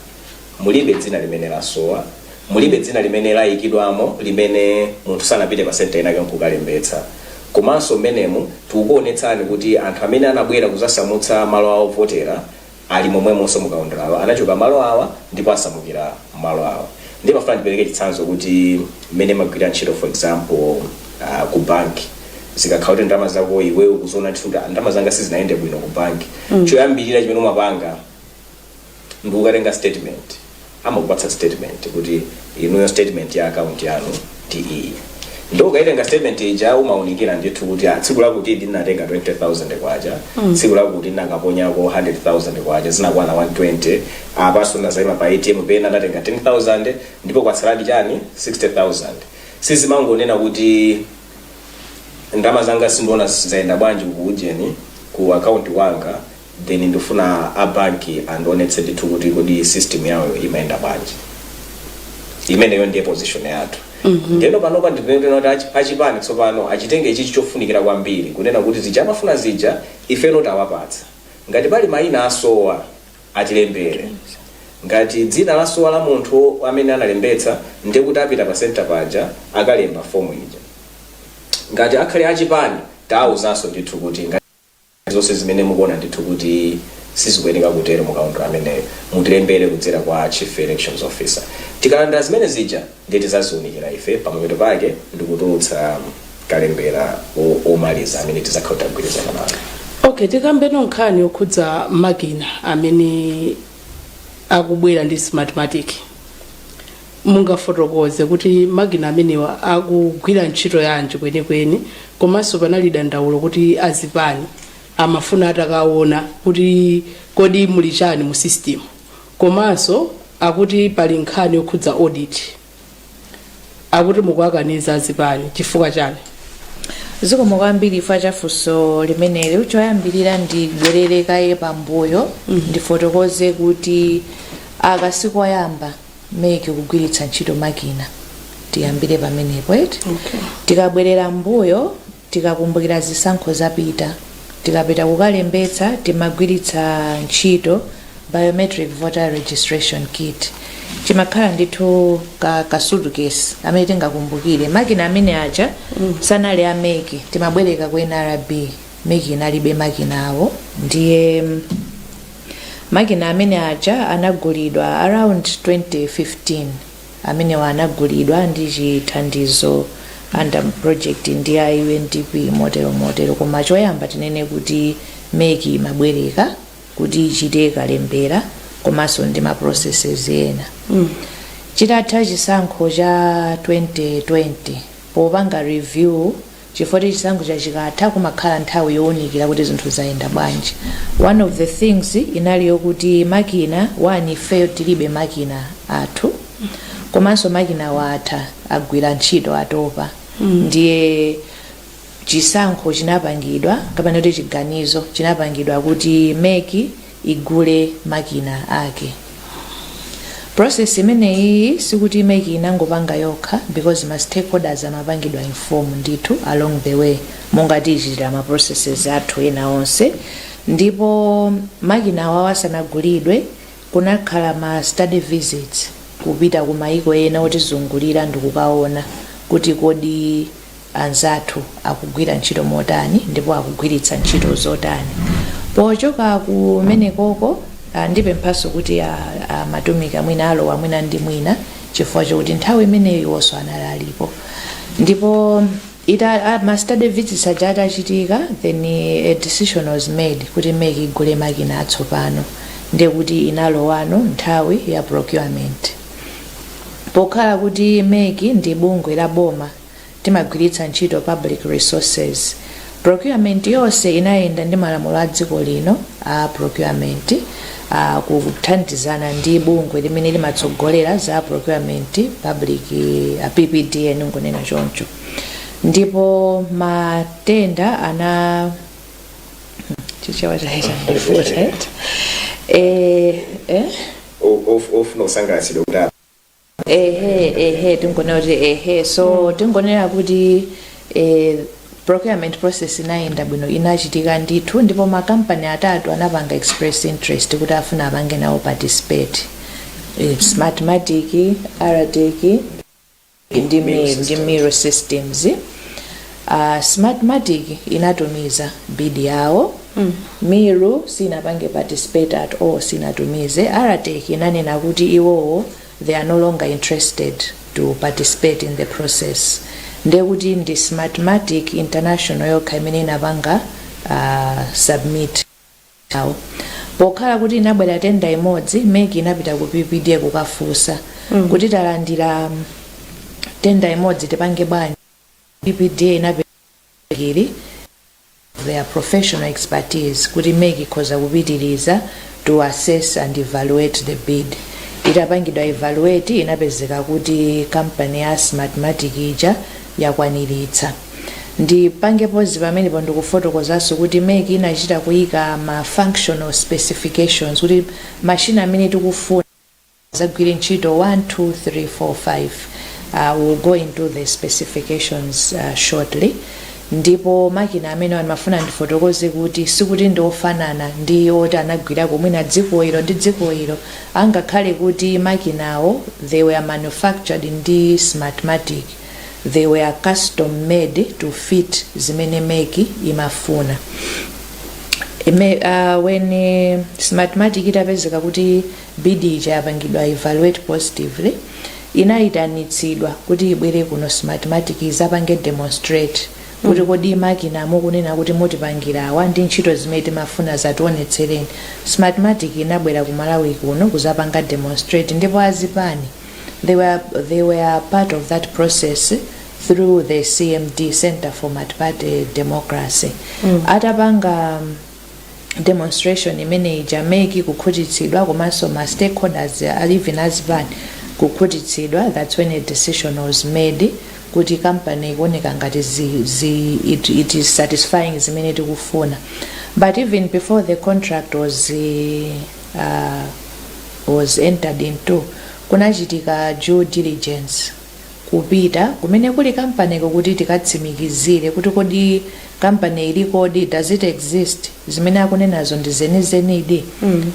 Mulibe dzina limene lasowa. Mulibe dzina limene layikidwamo limene munthu sanapite pa center inayake nkukalembetsa. Komanso mmenemu tikukuonetsani kuti anthu amene anabwera kuzasamutsa malo awo ovotera ali momwemonso mu kaundulawo. Anachoka malo awa ndipo asamukira malo awa. Ndiye ndimafuna ndipereke chitsanzo kuti mmene mmagwirira ntchito for example uh, ku bank zikakhala kuti ndalama zako iwe ukuziona ndithu kuti "Ah, ndalama zanga sizinayende bwino ku bank choyambirira chimene umapanga ndikukatenga statement amakupatsa statement kuti inuyo statement ya account yanu ndi iyi ndipo ukaitenga statement ija umaunikira ndithu kuti ah, tsiku lakuti ndinatenga 20000 kwacha tsiku lakuti ndinakaponyako 100000 kwacha zinakwana 120 apaso ndinazayima pa atm pena ndatenga 10000 ndipo kwatsaladi chani 60000 suzimangonena kuti ndalama zanga sindiona zayenda bwanji ku ujeni ku akaunti wanga then ndufuna a banki andionetse ndithu kuti kodi system yawoyo imayenda bwanji imeneyo ndiye position yathu ndeno panopa ndinena kuti achi- achipani tsopano achitenge ichichi chofunikira kwambiri kunena kuti zija amafuna zija ifeno tawapatsa ngati pali mayina asowa atilembere ngati dzina lasowa la munthu amene analembetsa ndiye kuti apita pa senta paja akalemba fomu ija ngati akhale achipani tawauzanso ndithu kuti ngati zonse zimene mukuona ndithu kuti sizikuyeneka kutero mu kaundula ameneyo mutilembere kudzera kwa Chief Elections Officer. Tikalandira zimene zija ndiye tizaziunikira ife pamapeto pake ndikutulutsa kalembera omaliza amene tizakhale tagwirizana nawo. Okay, tikambeno nkhani yokhudza makina amene akubwera ndi Smartmatic. Mungafotokoze kuti makina amenewa akugwira ntchito yanji kwenikweni komanso panali dandaulo kuti azipani amafuna atakaona kuti kodi muli chani mu system komanso akuti pali nkhani yokhudza audit akuti mukuwakaniza azipani chifukwa chani? zikomo kwambiri chifukwa cha funso limeneli choyambirira ndibwerere kaye pambuyo ndifotokoze kuti aka sikoyamba meki kugwiritsa ntchito makina tiyambire pamenepo eti Okay. tikabwerera mbuyo tikakumbukira zisankho zapita tikapita kukalembetsa timagwiritsa ntchito biometric voter registration kit chimakhala ndithu ka, ka suitcase amene tingakumbukire makina amene aja sanali a meki timabwereka ku nrb meki inalibe makina awo ndiye mm, Makina amene aja anagulidwa around 2015 amenewa anagulidwa ndi chithandizo under project ndi a UNDP motero motero koma choyamba tinene kuti mec imabwereka kuti ichite kalembera komanso ndi ma processes ena chitatha chisankho cha 2020 popanga review chifukwa kuti chisankhocha chikatha kumakhala nthawi yowunikira kuti zinthu zayenda bwanji one of the things inali yokuti makina one ifeyo tilibe makina athu komanso makinawo atha agwira ntchito atopa ndiye chisankho chinapangidwa kapena kuti chiganizo chinapangidwa kuti meki igule makina ake. Process imeneyiyi sikuti mec inangopanga yokha because ma stakeholders amapangidwa inform ndithu along the way monga tichitira ma processes athu ena onse ndipo makina awawa asanagulidwe kunakhala ma study visits kupita ku mayiko ena otizungulira ndikukaona kuti kodi anzathu akugwira ntchito motani ndipo akugwiritsa ntchito zotani pochoka kumenekoko ah, ndipemphanso kuti ah, ah, madunaika mwina alowa mwina ndi mwina chifukwa chokuti nthawi imeneyo iwonso anali alipo ndipo ita ah, ma study visits aja atachitika then eh, a decision was made kuti mec igule makina atsopano ndekuti inalowano nthawi ya procurement pokhala kuti mec ndi bungwe la boma Timagwiritsa ntchito public resources. Procurement yonse inayenda ndi malamulo a dziko lino a procurement a kuthandizana ndi bungwe limene limatsogolera za procurement public PPDA ndingonena choncho. Ndipo ma tenda ana chichewa chayamba kundivuta eti. Eh, eh? O- of- ofuna kusangalatsidwa kuti ehe ehe tingonena kuti ehe so tingonena kuti eh, procurement process inayenda bwino inachitika ndithu ndipo makampani atatu anapanga express interest kuti afuna apange nawo participate Eh, smartmatic Aratek ndi mi- ndi Miru systems Uh, smartmatic inatumiza bid yawo mm. miru sinapange participate at all sinatumize Aratek inanena kuti iwowo they are no longer interested to participate in the process ndekuti ndi smartmatic international yokha imene inapanga uh, submit yawo pokhala kuti inabwera tenda imodzi mec inapita ku ppda kukafunsa mm. kuti talandira tenda imodzi tipange bwanji PPDA inapereka mec ili their professional expertise kuti mec ikhoza kupitiriza to assess and evaluate the bid. Itapangidwa evaluate inapezeka kuti kampani ya Smartmatic ija yakwaniritsa. Ndipange pause pamenepo ndikufotokozanso kuti mec inachita kuyika ma functional specifications kuti mashini amene tikufuna adzagwire ntchito 1 2 3 4 5 uh, will go into the specifications uh, shortly ndipo makina amenewa ndimafuna ndifotokoze kuti sikuti ndi ofanana ndi oti anagwirako mwina dziko ilo ndi dziko ilo angakhale kuti makinawo they were manufactured ndi smartmatic they were custom made to fit zimene mec imafuna Ime, uh, when uh, smartmatic itapezeka kuti Bid ija yapangidwa evaluate positively, inaitanitsidwa kuti ibwere kuno Smartmatic izapange demonstrate kuti kodi makina mukunena kuti mutipangira awa ndi ntchito zimene timafuna dzationetsereni. Smartmatic inabwera ku Malawi kuno kuzapanga demonstrate ndipo azipani they were, they were part of that process through the CMD Center for Multiparty Democracy. Atapanga um, demonstration imene ija MEC kukhutitsidwa komanso ma stakeholders a even azipani kukhutitsidwa that's when a decision was made kuti company ikuoneka ngati zi, zi, it, it is satisfying zimene tikufuna but even before the contract was uh, was entered into kunachitika due diligence kupita kumene kuli kampaniko kuti tikatsimikizire kuti kodi kampani ilikodi, does it exist, zimene akunenazo ndi zenizenidi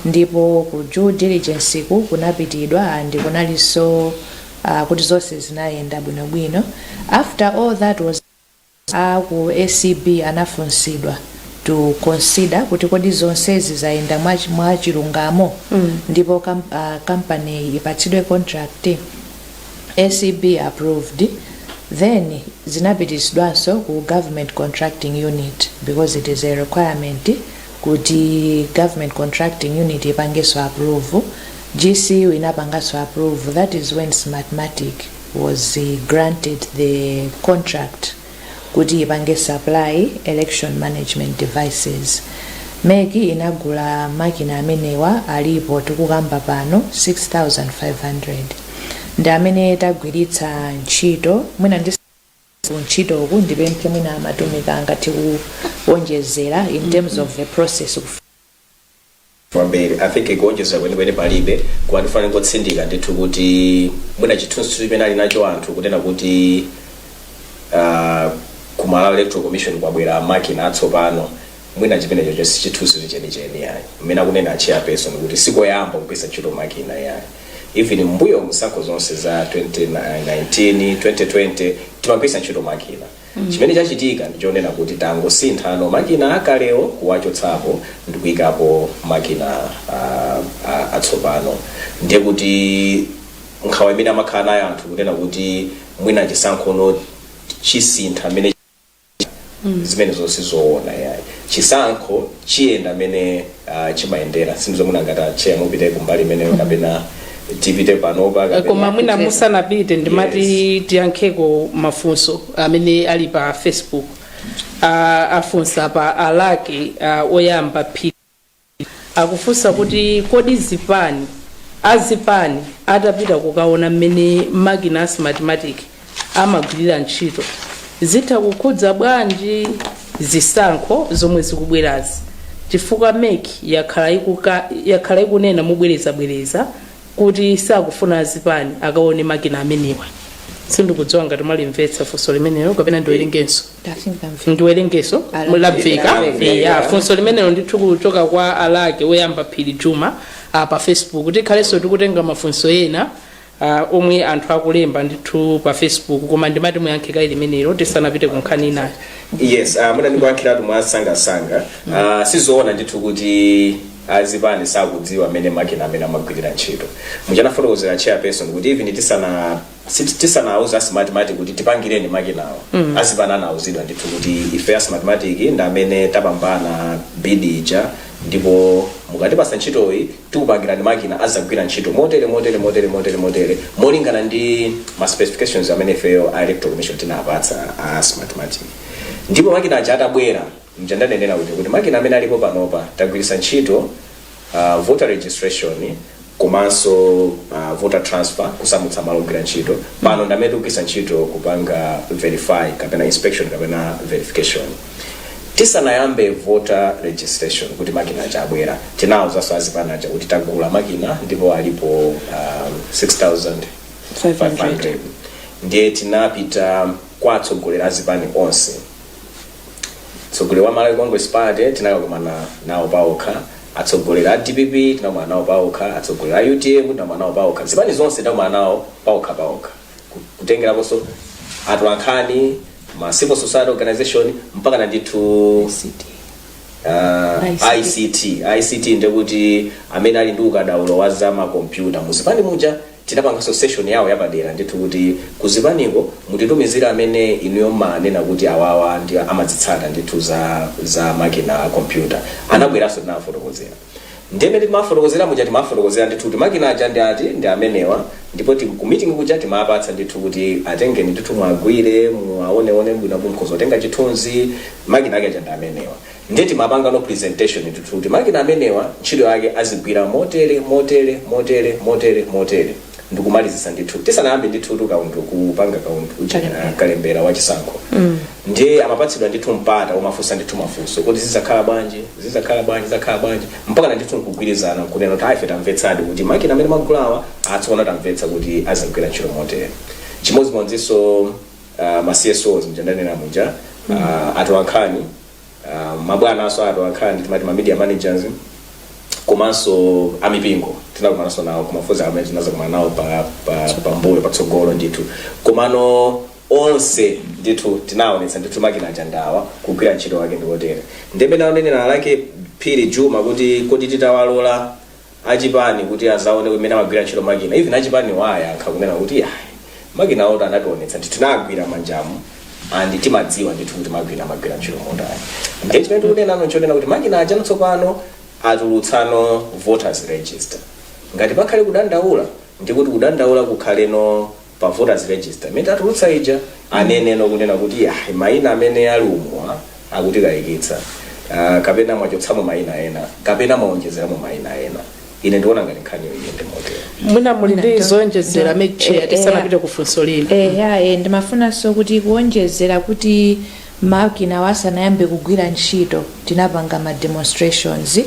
ndipo ku due diligenceku kunapitidwa and kunalinso ah, kuti zonse zinayenda bwinobwino after all that was A ku acb anafunsidwa to consider kuti kodi zonsezi zayenda mwa mwa chilungamo ndipo kam, uh, company ipatsidwe contract acb approved then zinapititsidwanso ku government contracting unit because it is a requirement kuti government contracting unit ipangenso approve gcu inapanganso approve that is when smartmatic was granted the contract kuti ipange supply election management devices mec inagula makina amenewa alipo tikukamba pano 6500 ndi amene tagwiritsa ntchito mwinanso ku ntchitoku ndipemphe mwina a Mwafulirwa angathe kuwonjezera in terms of the process kwambiri i think kuonjezera kwenikweni palibe koma ndifuna ndingotsindika ndithu kuti mwina chithunzi chimene ali nacho anthu kunena kuti ah, ku malawi electoral commission kwabwera makina atsopano mwina chimenecho sichithunzi chenicheni yayi mmene akunena a chairperson kuti sikoyamba kugwiritsa ntchito makina yayi even mbuyomu zisankho zonse za 2019 2020 timagwiritsa ntchito makina Chimene chachitika ndi chonena kuti tangosinthano makina akalewo kuwachotsapo ndikuikapo makina atsopano ndiye kuti nkhawa imene amakhala nayo anthu kunena kuti mwina chisankhono chisintha mmene chimakhalira zimenezo sizowona iyayi. Chisankho. chiyenda mmene uh, chimayendera sindidziwa mwina ngati atcheya mupite kumbali imeneyo kapena tipite panopa kapena- koma mwina musanapite ndimati tiyankheko mafunso amene ali pa facebook Ah, afunsa pa alaki ah, oyamba phiri akufunsa kuti kodi zipani azipani atapita kukaona mmene makina a smartmatic amagwirira ntchito zitha kukhudza bwanji zisankho zomwe zikubwerazi chifukwa mec yakhala ikuka- yakhala ikunena mobwerezabwereza kuti sakufuna azipani akaone makina amenewa sindikudziwa ngati mwalimvetsa funso limenelo kapena ndiwerengenso ndiwerengenso mwalimvetsa ya funso limenelo ndithu kuchoka kwa alake woyamba phiri juma ah, pa facebook tikhalenso tikutenga mafunso ena uh, omwe anthu akulemba ndithu pa facebook koma ndimati muyankhe kaye limenelo tisanapite ku nkhani inayo yes uh, mwina ndikuyankhiretu mwasangasanga uh, sizoona ndithu kuti azipani sakudziwa mmene makina amene amagwirira ntchito muja anafotokozera chairperson kuti even tisana sit- tisanauza a smartmatic kuti tipangireni makinawo mm. azipani anauzidwa ndithu kuti ife a smartmatic ndi amene tapambana bid ija ndipo mukatipatsa ntchitoyi tikupangirani makina azagwira ntchito motere motere motere motere motere molingana ndi ma specifications amene ifeyo a electoral commission tinapatsa a smartmatic ndipo makina aja atabwera muja ndanenera kuti kuti makina amene alipo panopa tagwiritsa ntchito uh, voter registration komanso uh, voter transfer kusamutsa malo ogwira ntchito pano ndamene tikugwiritsa ntchito kupanga verify kapena inspection kapena verification Tisanayambe voter registration kuti makina aja abwera tinawuzanso azipani aja kuti tagula makina ndipo alipo um, 6500 ndiye tinapita kwa atsogoleri azipani onse atsogoleri a malawi congress party tinakakumana nawo paokha atsogoleri a dpp tinakumana nawo paokha atsogoleri a utm tinakumana nawo paokha zipani zonse tinakumana nawo paokha paokha ku- kutengeraponso atolankhani ma civil society organization mpakana ndithu uh, ICT. ict ict ndekuti amene ali ndi ukadaulo wa za makompyuta muzipani muja tinapanganso session yawo yapadera ndithu kuti kuzipaniko mutitumizire amene inuyo mumanena kuti awawa ndi amazitsata ndithu za za makina a kompyuta anabweranso tinawafotokozera Ndiye mmene timawafotokozera muja timawafotokozera ndithu kuti makina aja ndi ati, ndi amenewa ndipo ti, ku meeting kuja timawapatsa ndithu kuti atengeni ndithu muwagwire, muwaoneone bwino apo mukhoza kutenga chithunzi, makina ake aja ndi amenewa. Ndiye timapangano presentation ndithu kuti makina amenewa ntchito yake azigwira motere, motere, motere, motere, motere ndi kumalizitsa ndithu tisanayambe ndithutu kaundu, kupanga kaundu uja, Kalembera. ah, kalembera wa chisankho. ndiye amapatsidwa ndithu mpata womafunsa ndithu mafunso kuti zizakhala bwanji zizakhala bwanji zizakhala bwanji mpaka na ndithu nkugwirizana nkunena kuti ife tamvetsadi kuti makina amene magulawa atsopano tamvetsa kuti azagwira ntchito motere chimodzimodzinso uh, ma csos mja ndanena muja uh, atolankhani uh, mabwana awo atolankhani timati ma media managers komanso amipingo tinakumananso nawo kumafunsa amene tinazakumana nawo pa, pa, pa mbuyo patsogolo ndithu komano onse ndithu tinaonetsa ndithu makina aja ndi awa kugwira ntchito wake ndikotere nde bwenzi naonjezera a phiri juma kuti kodi titawalola achipani kuti azaone mmene amagwira ntchito makina even achipani ayankha kunena kuti ayi makina awo anationetsa ndithu tinagwira manjamu and timadziwa ndithu kuti makina amagwira ntchito motani ndiye chimene tikunena nchonena kuti makina aja tsopano atulutsano voters register ngati pakhale kudandaula ndikuti kudandaula kukhaleno pa voters register imene tatulutsa ija aneneno kunena kuti ah, maina amene ali umuwa akutikayikitsa uh, kapena mwachotsamo maina ena kapena mwaonjezeramo maina ena ine ndiona ngati nkhaniyo iyende motero mwina muli ndi mwina zoonjezera to- ma chair eh, tisanapite eh, ku funso lino eya e, ndimafunanso kuti kuonjezera kuti makinawa asanayambe kugwira ntchito tinapanga ma demonstrations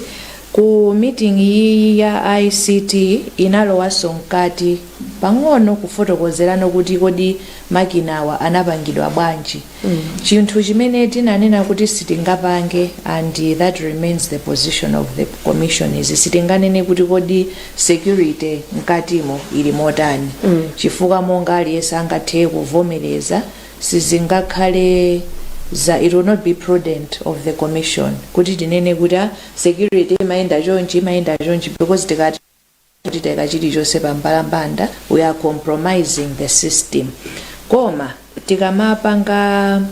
ku meeting iyi ya ict inalowanso mkati pang'ono kufotokozerano kuti kodi makinawa anapangidwa bwanji chinthu chimene tinanena kuti sitingapange and that remains the position of the commission is sitinganene kuti kodi security mkatimo ili motani chifukwa monga aliyense angathe kuvomereza sizingakhale za it will not be prudent of the commission kuti tinene kuti ah, security imayenda chonchi imayenda chonchi because tikati kuti taika chilichonse pambalambanda we are compromising the system koma tikamapanga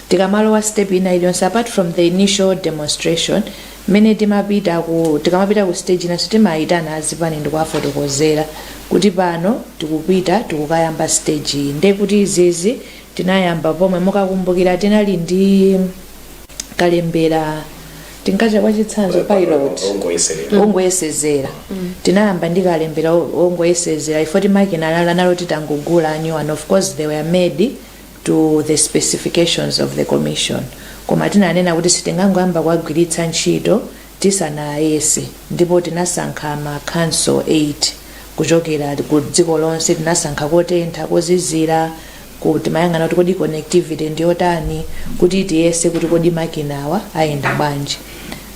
tikamalowa step ina iliyonse apart from the initial demonstration mmene timapita ku tikamapita ku stage inanso timayitana azipani ndikuwafotokozera kuti pano tikupita tikukayamba stage iyi nde kuti izizi tinayamba pomwe mukakumbukira tinali ndi kalembera tinkatcha kwa chitsanzo pilot ongoyeserera ongoyesezera tinayamba ndi kalembera o- ongoyesezera if oti makina lala nalo titangogula a new and of course they were made to the specifications of the commission koma tinanena kuti sitingangoyamba kuwagwiritsa ntchito tisanawayese ndipo tinasankha ma council 8 kuchokera ku dziko lonse tinasankha kotentha kozizira ku timayang'ana kuti kodi connectivity ndi yotani kuti tiyese kuti kodi makinawa ayenda bwanji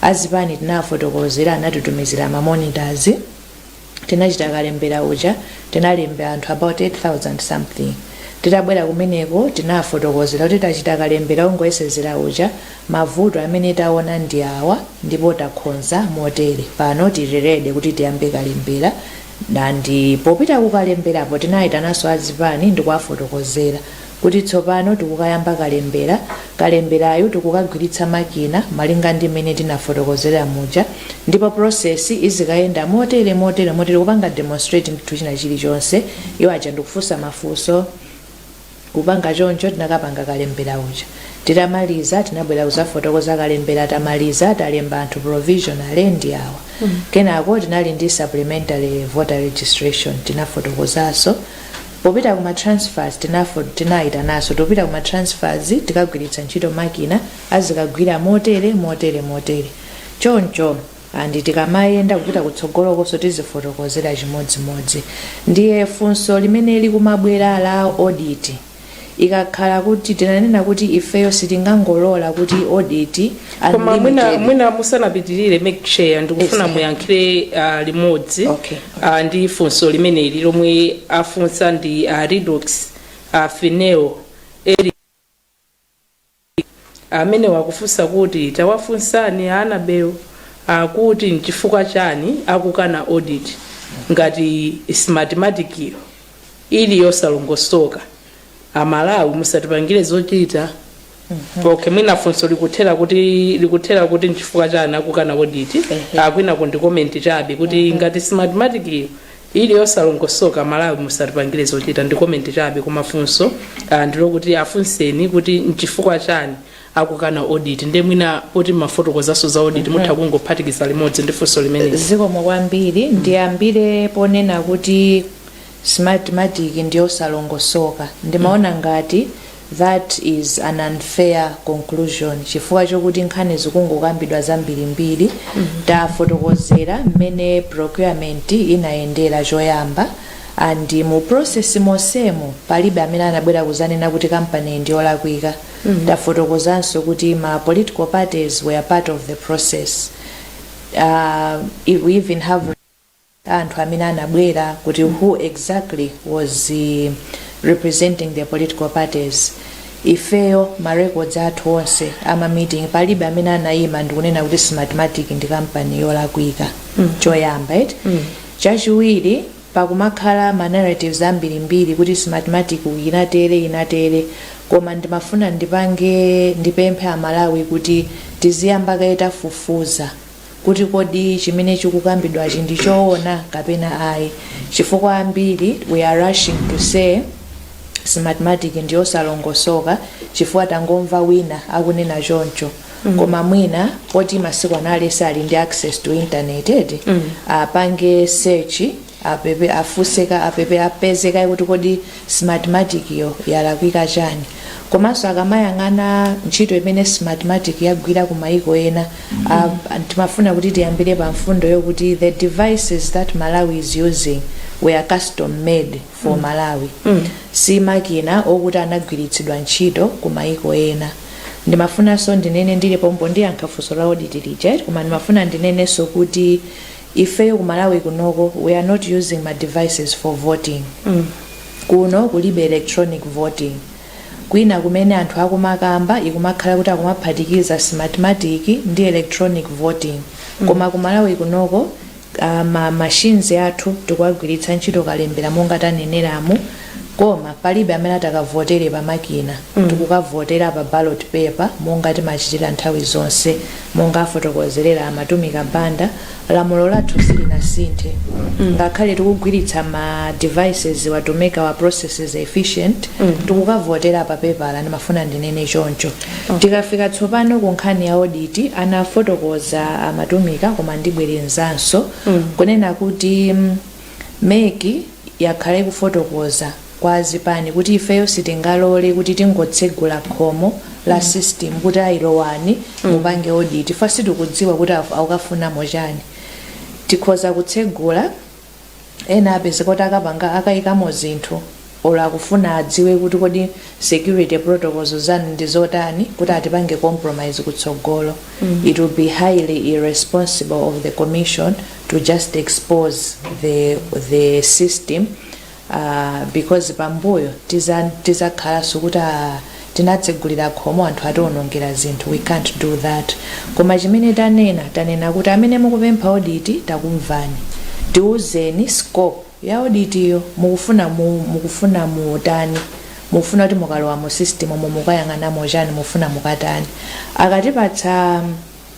azipani tinafotokozera anatitumizira ma monitors tinachita kalembera uja tinalemba anthu about 8000 something titabwera kumeneko tinafotokozera kuti tachita kalembera ongoyesezera uja mavuto amene taona ndi awa ndipo takhonza motere pano tili ready kuti tiyambe kalembera And popita kukalemberapo tinayitananso a zipani ndikuwafotokozera kuti tsopano tikukayamba kalembera, kalemberayu tikukagwiritsa makina malinga ndi mmene tinafotokozera muja ndipo process izikayenda motere motere motere kupanga demonstrate ndithu china chilichonse iwo aja ndikufunsa mafunso. kupanga choncho tinakapanga kalembera uja titamaliza tinabwera kuzafotokoza kalembera tamaliza talemba anthu provisionally ndi awa kenako tinali ndi supplementary voter registration tinafotokozaso popita kuma transfers tinafo tinayitanaso topita kuma transfers tikagwiritsa ntchito makina azikagwira motere motere motere choncho and tikamayenda kupita kutsogolokonso tizifotokozera chimodzimodzi ndiye funso limene likumabwera la audit ikakhala kuti tinanena kuti ifeyo sitingangolola kuti audit koma mwina musanapitirire madam chair ndikufuna Yes. muyankhire uh, limodzi Okay. uh, ndi funso limeneli lomwe afunsa ndi a Redox uh, fineo eri amenewa akufunsa kuti tawafunsani a anabel akuti nchifukwa chani akukana audit ngati smartmatikiyo ili yosalongosoka amalawi musatipangire zochita okay mwina funso likuthera kuti likuthera kuti nchifukwa chani akukana audit uku kwinaku ndi komenti chabe kuti ngati smartmatikiyo ili yosalongosoka amalawi musatipangire zochita ndi komenti chabe koma funso ah, ndilokuti afunseni kuti nchifukwa chani akukana audit nde mwina poti mmafotokozaso za audit mutha kungophatikiza limodzi ndi funso limeneli zikomo kwambiri ndiyambire ponena kuti smartmatic ndiyosalongosoka ndimaona ngati That is an unfair conclusion chifukwa chokuti nkhani zikungokambidwa zambirimbiri tafotokozera mmene procurement inayendera choyamba and mu process monsemu palibe amene anabwera kuzanena kuti kampani ndi yolakwika tafotokozanso kuti ma political parties were part of the process uh, we even have anthu amene anabwera kuti who exactly was representing the political parties ifeyo ma records athu onse ama meeting palibe amene anayima ndikunena kuti smartmatic ndi kampani yolakwika mm. choyamba eti mm. chachiwiri pakumakhala ma narratives ambirimbiri kuti smartmatic inatere inatere koma ndimafuna ndipange ndipemphe amalawi kuti tiziyamba kaye tafufuza kuti kodi chimene chikukambidwachi ndi choona kapena ayi chifukwa ambiri we are rushing to say smartmatic ndi yosalongosoka chifukwa tangomva wina akunena choncho mm. koma mwina poti masiku ano aliyense ali ndi access to internet eti mm. apange search afuse kaye apeze kaye kuti kodi smartmatic yo yalakwika chani komanso akamayang'ana ntchito imene smartmatic yagwira ku maiko ena uh, timafuna kuti tiyambire pa mfundo yokuti the devices that malawi is using were custom made for malawi si makina okuti anagwiritsidwa ntchito ku maiko ena ndimafunanso ndinene ndili pompo ndiyankha funso la audit lija koma ndimafuna ndinenenso kuti Ifeyo ku Malawi kunoko we are not using ma devices for voting. Kuno kulibe electronic voting. Kwina kumene anthu akumakamba ikumakhala kuti akumaphatikiza smartmatic ndi electronic voting. Koma ku Malawi kunoko ah, ma machines athu tikuwagwiritsa ntchito kalembera monga taneneramu. Koma palibe amene atakavotere pa makina mm. tikukavotera pa ballot paper monga timachitira nthawi zonse monga afotokozerera a Mathumika Banda lamulo lathu silinasinthe mm. ngakhale tikugwiritsa ma devices wa to make our processes efficient mm. tikukavotera pa pepala ndimafuna ndinene choncho okay. tikafika tsopano ku nkhani ya audit anafotokoza a Mathumika koma ndibwerezanso mm. kunena kuti mm, Mec yakhala ikufotokoza kwa azipani kuti ifeyo sitingalole kuti tingotsegula khomo la system kuti ayi lowani mupange audit chifukwa sitikudziwa kuti akufunamo chani. Tikhoza kutsegula ena apezeke kuti akapanga, akaikamo zinthu. or akufuna adziwe kuti kodi security protocols zanu ndi zotani kuti atipange compromise kutsogolo it will be highly irresponsible of the commission to just expose the, the system uh, because pambuyo tiza- tizakhalanso kuti ah, tinatsegulira khomo anthu atiwonongera zinthu we can't do that koma chimene tanena tanena kuti amene mukupempha audit takumvani tiuzeni scope ya audit yo mukufuna mu mukufuna mutani mukufuna kuti mukalowa mu system mu mukayang'anamo chani mufuna mukatani akatipatsa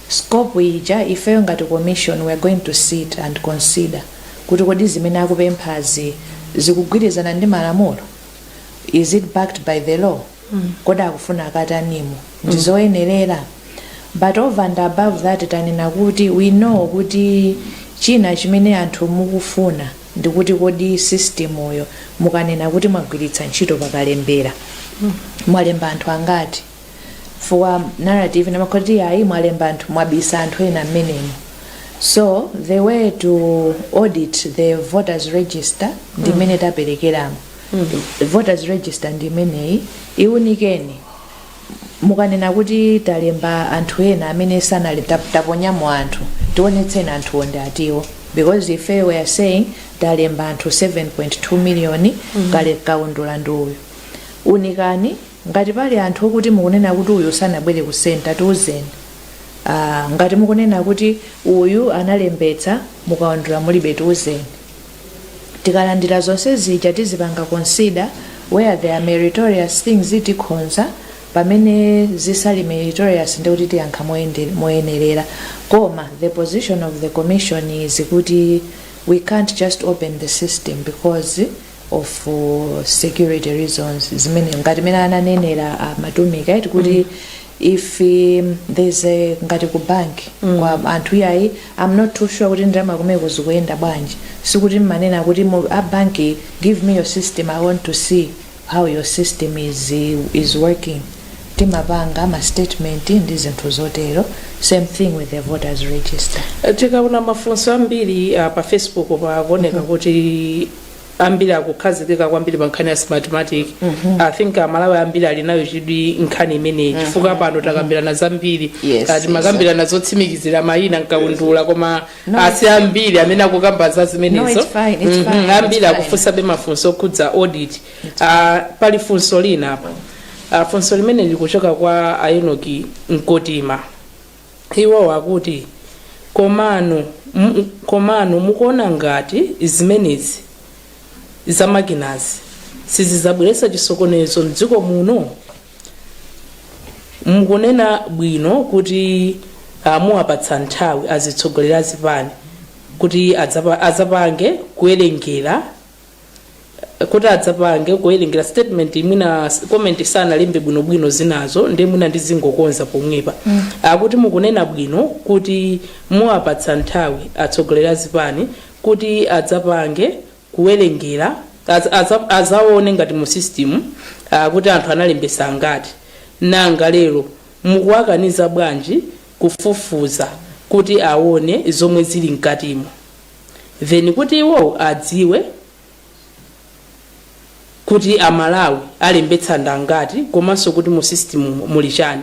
scope ija ifeyo ngati commission we are going to sit and consider kuti kodi zimene akupemphazi zikugwirizana ndi malamulo is it backed by the law kodi akufuna akatanimo ndizoyenerera but over and above that tanena kuti we know kuti china chimene anthu mukufuna ndikuti kodi system yo mukanena kuti mwagwiritsa ntchito pakalembera mwalemba anthu angati for narrative yomakhala kuti ayi mwalemba anthu mwabisa anthu ena mmenemo so the way to audit the voters register ndi mmene taperekeramo voters register ndi imeneyi iwunikeni mukanena kuti talemba anthu ena amene sanali tap- taponyamo anthu tionetseni anthuwo ndi atiwo because ife we are saying talemba anthu 7.2 million kaundula ndi uyu unikani ngati pali anthu okuti mukunena kuti uyu sanabwere ku senta tiuzeni Ah, ngati mukunena kuti uyu analembetsa mukaundula mulibe tiuzeni tikalandira zonse zija tizipanga consider where there are meritorious things tikhonza pamene zisali meritorious ndi kuti tiyankha moyende- moyenerera koma the position of the commission is kuti we can't just open the system because of uh, security reasons zimene ngati mene ananenera uh, Mathumika eti kuti if um, there's a ngati ku bank mm. wa anthu iyayi i'm not too sure kuti ndalama kumeko zikuyenda bwanji sikuti mmanena kuti mu- a bank give me your system i want to see how your system is, is working timapanga ma statement ndi zinthu zotero same thing with the voters register tikaona mafunso ambiri ah, pa facebook pakuoneka kuti ambiri akukhazikika kwambiri pa nkhani ya smartmatic i think amalawi ambiri ali nayo chidwi nkhani imeneyi chifukwa pano takambirana zambiri Yes, Ah, timakambirana zotsimikizira mayina nkaundula koma si ambiri amene akukamba za zimenezo ambiri akufunsabe mafunso okhudza audit Ah, pali funso lina apa Ah, funso limene likuchoka kwa a Enoki Mkotima Iwo akuti, Komano, komano mukuona ngati zimenezi za makinazi sizidzabweretsa chisokonezo m'dziko muno? Mukunena bwino kuti ah, muwapatsa nthawi azitsogoleri a zipani kuti adzapa- adzapange kuwerengera kuti adzapange kuwerengera statement mwina s- comment sanalembe bwinobwino zinazo ndi mwina ndizingokonza pomwepa akuti mukunena bwino kuti muwapatsa nthawi atsogoleri a zipani kuti adzapange kuwerengera adza- adza- adzaone ngati mu system ah, kuti anthu analembetsa angati nanga lero mukuwakaniza bwanji kufufuza kuti aone zomwe zili mkatimo then kuti iwowo adziwe kuti a Malawi alembetsa ndi angati komanso kuti mu system mu- muli chani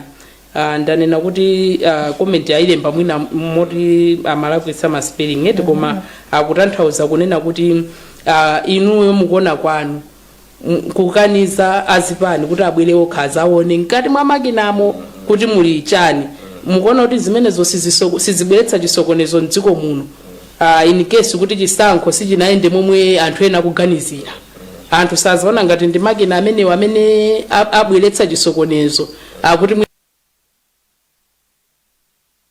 uh, ndanena kuti uh, comment ayilemba mwina moti amalakwitsa ma spelling eti koma akutanthauza kunena kuti uh, inuyo mukuona kwanu kukaniza azipani kuti abwere okha azaone mkati mwa makinamo kuti muli chani mukuona kuti zimenezo siziso- sizibweretsa chisokonezo mdziko muno uh, in case kuti chisankho sichinayende momwe anthu ena akuganizira anthu sazaona ngati ndi makina amenewo amene a- abweretsa chisokonezo akuti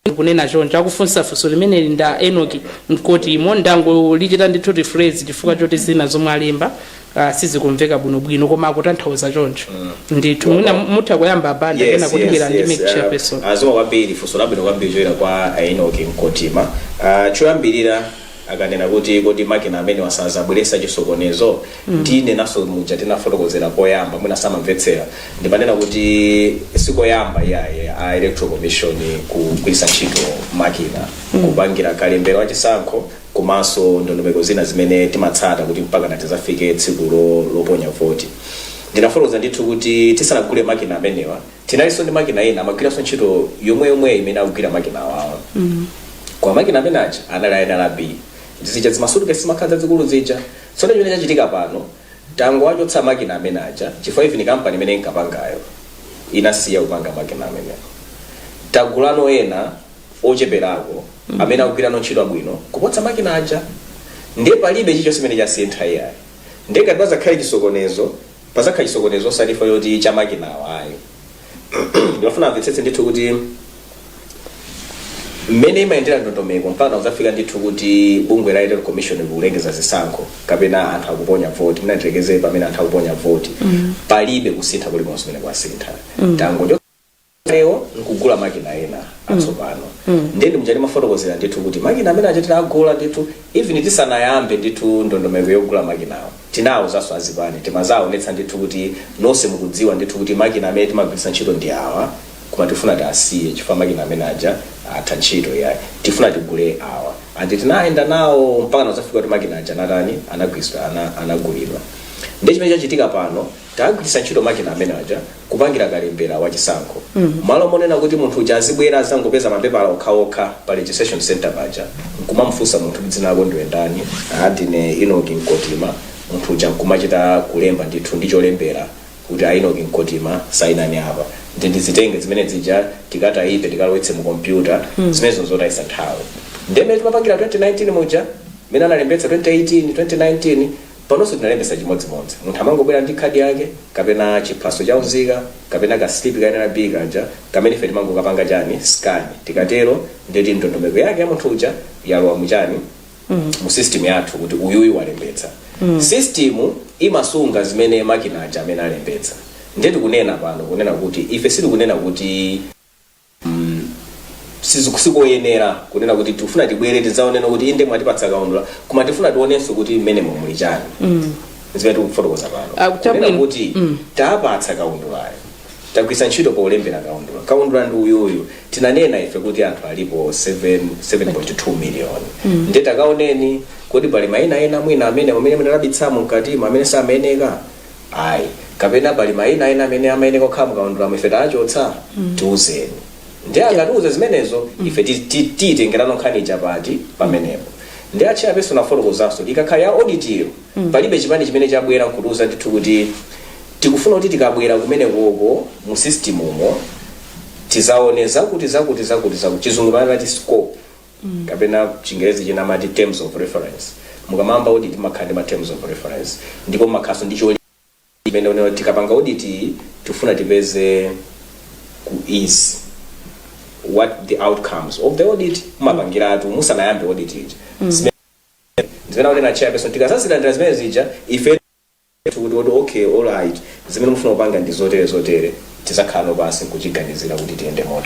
ndikunena choncho, akufunsa funso limeneli ndi a Enock Mkotima, ndangolichita ndithu rephrase chifukwa choti zina zomwe alemba ah, sizikumveka bwinobwino koma akutanthauza choncho ndithu mwina mutha kuyamba a Banda yes, kenako tibwera yes, ndi yes. MEC chairperson Uh, zikomo kwambiri funso labwino kwambiri chochokera kwa a Enock Mkotima uh, choyambirira akanena kuti kodi makina amenewa sazabweretsa chisokonezo ndinenanso muja tinafotokozera koyamba mwina samamvetsera ndimanena kuti sikoyamba iyayi a electoral commission kugwiritsa ntchito makina kupangira kalembera wachisankho komanso ndondomeko zina zimene timatsata kuti mpaka natizafike tsiku lo- loponya voti ndinafotokoza ndithu kuti tisanagule makina amenewa Tinalinso ndi makina ena amagwiranso ntchito yomweyomweyo imene akugwira makina awawa. Koma makina amene aja anali a NRB. Ndi zija zimasutikesi zimakhala zazikulu zija. Tsono chimene chachitika pano, tangowachotsa makina amene aja chifukwa even kampani imene inkapangayo inasiya kupanga makina amenewo. Tagulano ena ocheperako amene akugwirano ntchito bwino kuposa makina aja. Ndiye palibe chilichonse chimene chasintha iyayi. Ndiye ngati pazakhale chisokonezo, pazakha chisokonezo osati chifukwa choti cha makinawa ayi ndimafuna amvetsetse ndithu kuti mmene imayendera ndondomeko mpaka kuzafika ndithu kuti bungwe la electoral commission likulengeza zisankho kapena anthu akuponya voti mwina tilekeze pamene anthu akuponya voti palibe kusintha kulikonse kumene kwasintha tangocho kalewo nkugula makina ena atsopano ndiye ndi muja timafotokozera ndithu kuti makina amene aja tinagula ndithu even tisanayambe ndithu ndondomeko yogula makinawo tinawuzanso azipani timawaonetsa ndithu kuti nonse mukudziwa ndithu kuti makina amene timagwiritsa ntchito ndi awa koma tifuna tiasiye chifukwa makina amene aja atha ntchito yayi tifuna tigule awa andi tinayenda nawo mpaka nazafika kuti makina aja anatani anagwiritsidwa ana- anagulidwa ndi chimene chachitika pano Tagwiritsa ntchito makina amene aja kupangira kalembera wa chisankho. Mmalo monena kuti munthu uja azibwera azangopeza mapepala okhaokha pa registration centre paja nkumamufunsa munthu kuti dzina lako ndiwe ndani, aa ndine Inoki Nkotima, munthu uja nkumachita kulemba ndithu ndi cholembera kuti a Inoki Nkotima sayinani apa. Ndi ndizitenge zimene zija tikatayipe tikalowetse mu kompyuta zimenezo nzotayitsa nthawi. Nde mmene timapangira 2019 muja, mene analembetsa 2018, 2019 Panonso tinalembetsa chimodzimodzi. Munthu amangobwera ndi khadi yake, kapena chiphaso cha unzika, kapena ka slipi ka nrb kaja, kamene ife timangokapanga chani, scan. Tikatero, ndiye kuti ndondomeko yake ya munthu uja yalowa mu chani, mu system yathu kuti uyuyu walembetsa. System imasunga zimene makina aja amene alembetsa. Ndiye tikunena pano, kunena kuti, ife sitikunena kuti. sizi- sikoyenera kunena kuti tikufuna tibwere tidzaonenso kuti inde mwatipatsa kaundula koma tifuna tionenso kuti mmene muli chani zimene tikufotokoza pano Ah, kuti Kunena abwino. kuti tapatsa kaundulayo tagwiritsa ntchito polembera kaundula kaundula ndi uyuyu tinanena ife kuti anthu alipo 7 7.2 miliyoni ndiye takaoneni kodi pali maina ena mwina amene amene munabisamo mkatimo amene samayeneka ayi kapena pali mayina ena amene amayeneka kukhala mukaundulamo ife tawachotsa tiuzeni ndiye akatiuza zimenezo ife ti- ti- tiyitengerano nkhani ija pati pamenepo ndi achairperson afotokozanso ikakhala ya auditiyo palibe chipani chimene chabwera nkutiuza ndithu kuti tikufuna kuti tikabwera kumenekoko mu system umo tizaone zakuti zakuti zakuti zakuti chizungu amati scope mm. kapena chingerezi china amati terms of reference mukamayamba audit mumakhala ndi ma terms of reference ndipo mumakhalanso ndi choli imene unayo tikapanga audit iyi, tifuna tipeze kuti what the outcomes of the audit mumapangiratu musanayambe audit ija Zimene- zimene akunena chairperson tikazazilandira zimene zija ife kuti kuti okay all right zimene mufuna kupanga ndi zotere zotere tizakhalano pansi nkuziganizira kuti tiyende mota